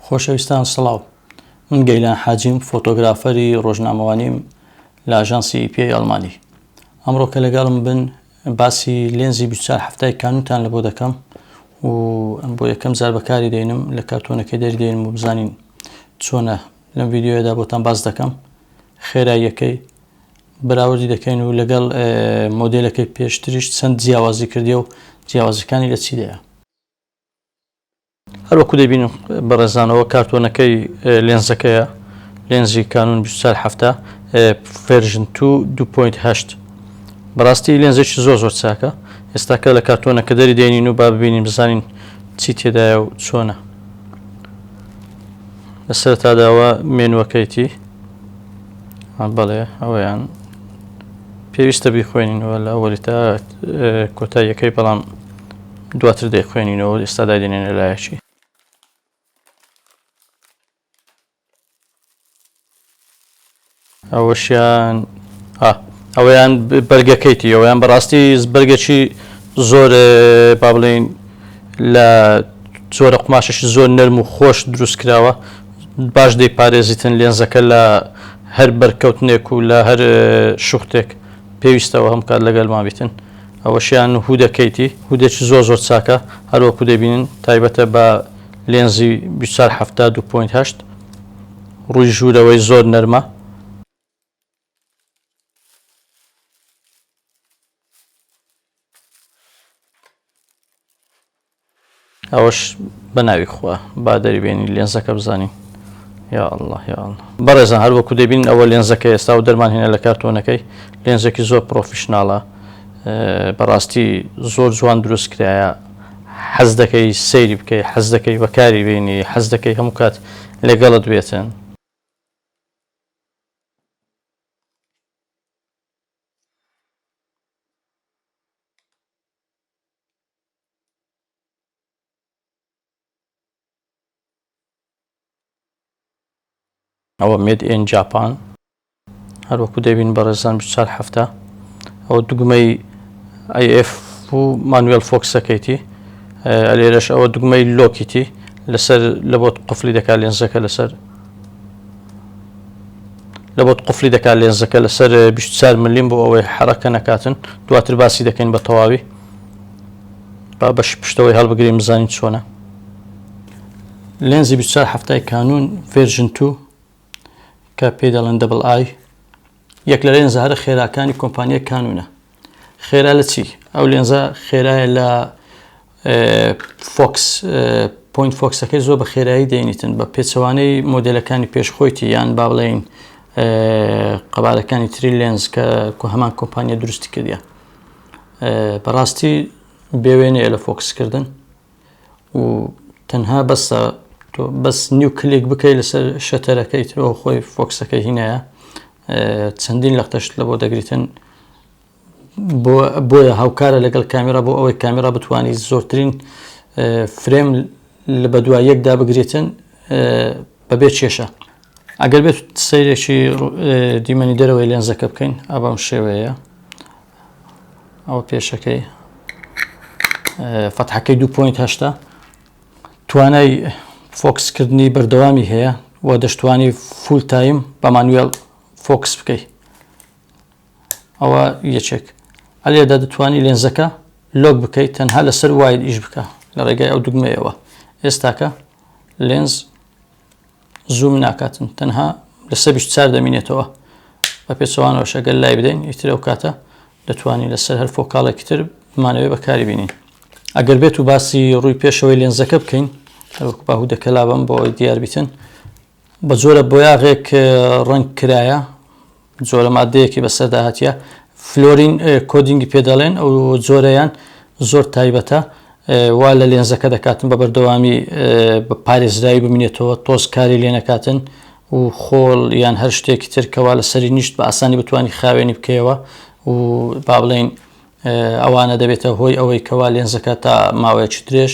خۆشەویستان سڵاو من گەیلان حاجیم فۆتۆگرافەری ڕۆژنامەوانیم لە ئاژانسی ئیپیای ئەڵمانی ئەمڕۆ کە لەگەڵم بن باسی لێنزی بیچار هەفتای کانوتان لە بۆ دەکەم و ئەم بۆ یەکەم زار بەکاری دێنم لە کارتۆنەکە دەردێنم و بزانین چۆنە لەم ویددیوەدا بۆتان باز دەکەم خێراییەکەی بەراوردی دەکەین و لەگەڵ مۆدلەکەی پێشتریش چەند جیاوازی کردی و جیاوازەکانی لە چیدەیە هەر وەکو دەیبینن بەڕێزان ئەوە کارتۆنەکەی لێنزەکەیە لێنزی کانون بیست و چوار حەفتا ڤێرژن تو دوو پۆینت هەشت بەڕاستی لێنزێکی زۆر زۆر چاکە ئێستاکە لە کارتۆنەکە دەری دێنین و با ببینین بزانین چی تێدایە و چۆنە لە سەرتاداوە مێنوەکەیتی بەڵێ ئەوەیان پێویستە بیخوێنینەوە لە ئەوەلی تا کۆتاییەکەی بەڵام دواتر دەیخوێنینەوە ئێستا دایدەنێنە لایەکی. ئەوەشیان ئەویان بەرگەکەیتی ئەویان بەڕاستی بەرگەکی زۆر با بڵین لە زۆرە قوماشەشی زۆر نەرم و خۆش دروست کراوە باش دەی پارێزیتن لێنزەکە لە هەر بەرکەوتنێک و لە هەر شوختێک پێویستەوە هەم کات لەگەلمان بیتن ئەوەشیان هودە کەیتی هودەکی زۆر زۆر چاکە هەروەکو دەبینن تایبەتە بە لێنزی 2470.8 ڕووی ژوورەوەی زۆر نەرمە ئەوەش بەناوی خوا با دەری بێنی لێنزەکە بزانین یا الله یا الله بەڕێزان هەر وەکو دەبین ئەوە لێنزەکە ئێستا و دەرمان هێنە لە کارتۆنەکەی لێنزێکی زۆر پرۆفیشنناڵە بەڕاستی زۆر جوان دروست کرایە حەز دەکەی سەیری بکەی حەز دەکەی بەکاری بینی حەز دەکەی هەموو کات لەگەڵت بێتن ئەوە مێد ئێن جاپان هەروەکو دەبین بەڕێزان چار هەفتە ئەو دوگمەی ئەف و مانوێل فۆکسەکەیتی لێرەش ئەوە دوگمەی لۆکیتی لەسەر لە بۆت قفلی دەکات لێنزەکە لەسەر لە بۆت قفلی دەکات لێنزەکە لەسەر 24 ملیم بۆ ئەوەی حرەکە نەکاتن دواتر باسی دەکەین بە تەواوی با بەشی پشتەوەی هەڵبگرین بزانین چۆنە لێنزی 24 هەفتای کانون ڤێرژن تو کە پێ دەڵێن دەبڵ ئای یەک لە لێنزە هەرە خێراکانی کۆمپانیای کانونە خێرا لە چی ئەو لێنزە خێرایە لە فۆکس پوین فۆکسەکەی زۆر بە خێرایی دەینیتن بە پێچەوانەی مۆدلەکانی پێشخۆیتی یان با بڵێین قەبارەکانی تری لێنز کە کو هەمان کۆمپانیا دروستی کردە بەڕاستی بێوێنەیە لە فۆکسکردن و تەنها بەسە تۆ بەس نیو کلێک بکەیت لەسەر شەتەرەکەی ترۆ خۆی فۆکسەکە هینایە چەندین لە قەشت لە بۆ دەگریتن بۆیە هاوکارە لەگەڵ کامێرا بۆ ئەوەی کامێرا بتانی زۆرترین فرێم لە بەدووە یەکدا بگرێتن بەبێ کێشە ئەگەر بێت سیرێکی دیمەنی دەرەوەی لێنزەکە بکەین ئابام شێوەیە ئەوە پێشەکەی فەتحەکەی دو پوینت هەشتا توانای فۆکسکردنی بەردەوامی هەیە و دەشتوانی فول تایم بە مانوێل فۆکس بکەیت ئەوە یەکێک ئەلێدا دەتوانی لێنزەکە لۆک بکەیت تەنها لەسەر وایل ئیش بکە لە ڕێگای ئەو دوگمەیەوە ئێستاکە لێنز زووم ناکاتن تەنها لە سەر چار دەمینێتەوە بە پێچەوانەوەشە گەل لای بدەین ئیتر ئەو کاتە دەتوانین لەسەر هەر فۆکاڵێکی تر بمانەوەی بەکاری بینین ئەگەر بێت و باسی ڕووی پێشەوەی لێنزەکە بکەین هەروەکو باهو دەکەلابم بۆ ئەوی دیاربیتن بە جۆرە بۆیاغێک ڕنگ کرایە جۆرە ماددەیەکی بەسەردا هاتیە فلۆرین کۆدینگی پێ دەڵێن ئەو جۆرەیان زۆر تایبەتە وا لە لێنزەکە دەکاتن بە بەردەوامی بە پارێزراوی بمینێتەوە تۆز کاری لێ نەکاتن و خۆڵ یان هەر شتێکی ترکەوە لە سەری نیشت بە ئاسانی بتانی خاوێنی بکەیەوە و با بڵین ئەوانە دەبێتە هۆی ئەوەی کەوا لێنزەکە تا ماوەیەکی درێژ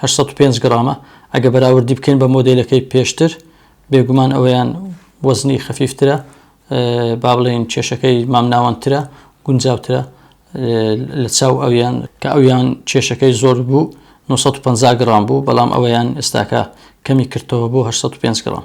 هەشت سەد و پێنج گڕامە، ئەگە بەراوردی بکەین بە مۆدێلەکەی پێشتر بێگومان ئەویان وەزنی خەفیفترە با بڵێین کێشەکەی مامناوەندترە گونجاوترە لە چاو ئەویان کە ئەویان کێشەکەی زۆر بوو 950 گرام بوو بەڵام ئەوەیان ئێستاکە کەمی کردەوە بۆ 805 گرام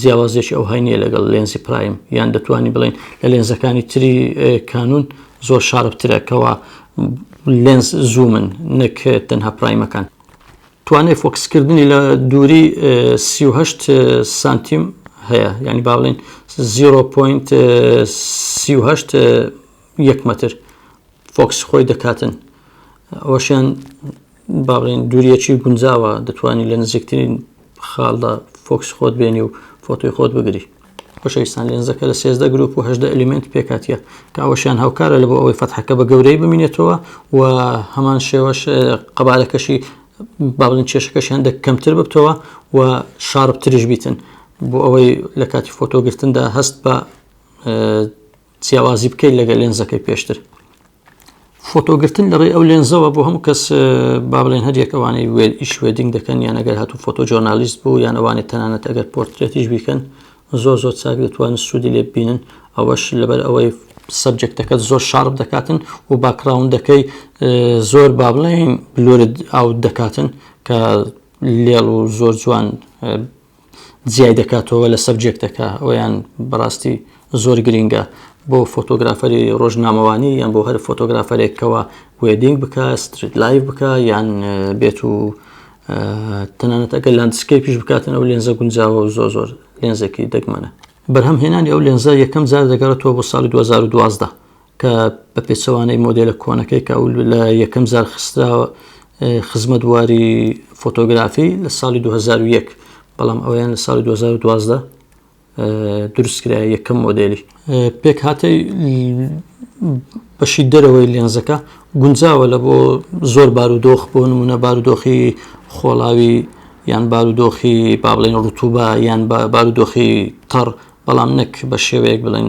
جیاوازیەکی ئەوهای نییە لەگەڵ لێنزی پرایم یان دەتوانین بڵین لە لێنزەکانی تری کانون زۆر شاربترە کەەوە لێنز زوومن نەک تەنها پرایمەکان توانای فۆکسکردنی لە دووری 38 سانتیم هەیە ینی باڵین 0.38 یەک متر فۆکسی خۆی دەکاتن ئەوەشیان با بڵێن دووریەکی گونجاوە دەتوانانی لە نزیکترین خاڵدا فۆکس خۆت بێنی و فۆتۆی خۆت بگری خۆشەویستان لێنزەکە لە سێزدە گروپ و هەدە ئەلیمنت پێکاتە کاوەشیان هاوکارە لە بۆ ئەوەی فەتحەکە بە گەورەی بمینێتەوە و هەمان شێوەش قەبارەکەشی باڵین کێشەکەشیان دە کەمتر ببتەوە و شاربتریش بیتن بۆ ئەوەی لە کاتی فۆتۆگرتندا هەست بە جیاوازی بکەین لەگە لێنزەکەی پێشتر فۆتۆگرتن لەڕێی ئەو لێنزەوە بۆ هەموو کەس با بڵێن هەر یەکەوانی وێل ئیش وێدینگ دەکەن یان ئەگەر هاتو فۆتۆ جۆرنالیست بوو یان ئەوانی تەنانەت ئەگەر پۆرترێتیش بیکەن زۆر زۆر چاک دەتوان سوودی لێ ببینن ئەوەش لەبەر ئەوەی سەبجێکتەکە زۆر شارب دەکاتن و باکراونندەکەی زۆر با بڵێن بلورد ئاوت دەکاتن کە لێڵ و زۆر جوان جیای دەکاتەوە لە سەبجێکتەکە ئەویان بەڕاستی زۆر گرینگە بۆ فۆتۆگرافەری ڕۆژنامەوانی یان بۆ هەر فۆتۆگرافەرێکەوە وێدینگ بکە ستریت لایف بکە یان بێت و تەنانەتەکە لاندسکەی پیش بکاتن ئەو لێنزە گونجاوە و زۆ زۆر لێنزێکی دەگمەنە بەرهەم هێنانی ئەو لێنزە یەکەم جار دەگەڕێتەوە بۆ ساڵی 2012 کە بە پێچەوانەی مۆدێلە کۆنەکەی کە ئەو لە یەکەم زار خستراوە خزمەت واری فۆتۆگرافی لە ساڵی 2001 بەڵام ئەویان لە ساڵی 2012 دروستکرا یەکەم مۆدلی پێک هاتی بەشی دەرەوەی لێنزەکە گونجاوە لە بۆ زۆر بارودۆخ بۆ نمونە بارودۆخی خۆڵاوی یان بارودۆخی با بڵێن ڕوتوبە یان بارودۆخی تەڕ بەڵام نەک بە شێوەیەک بڵێن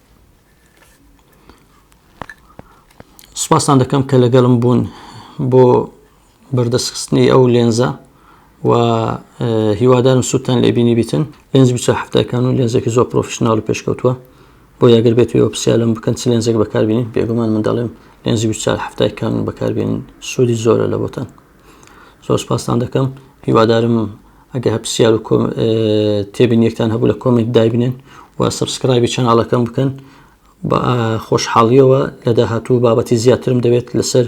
سپاستان دەکەم کە لەگەڵم بوون بۆ بەردەستخستنی ئەو لێنزە و هیوادارم سووتان لێبینی بیتن لێنز بیچە هەفتەکان و لێنزێکی زۆر پرۆفشنناڵ و پێشکەوتووە بۆ یاگەر بێت وێ پرسیالم بکەن چ لێنزێک بەکاربیین بێگومان منداڵێم لێنزی بیچار هەفتای کانون بەکاربیین سوودی زۆرە لە بۆتان زۆر سپاستان دەکەم هیوادارم ئەگە هەپسیار و تێبین یەکتان هەبوو لە کۆمنت دایبنێن و سبسکرایبی چەناڵەکەم بکەن بە خۆشحاڵیەوە لە داهاتوو بابەتی زیاترم دەوێت لەسەر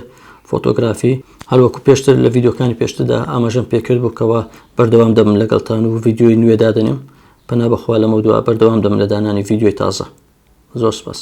فۆتۆگرافی هەروەکو پێشتر لە ڤیددیوکانی پێشتدا ئاماژەم پێکرد بووکەوە بەردەوام دەبم لەگەڵتان و ڤیددیوی نوێ دادنێم پنا بەخوا لەمە دووە بەردەوام دەم لە دانانی ڤیددیوی تازە زۆر سپاس.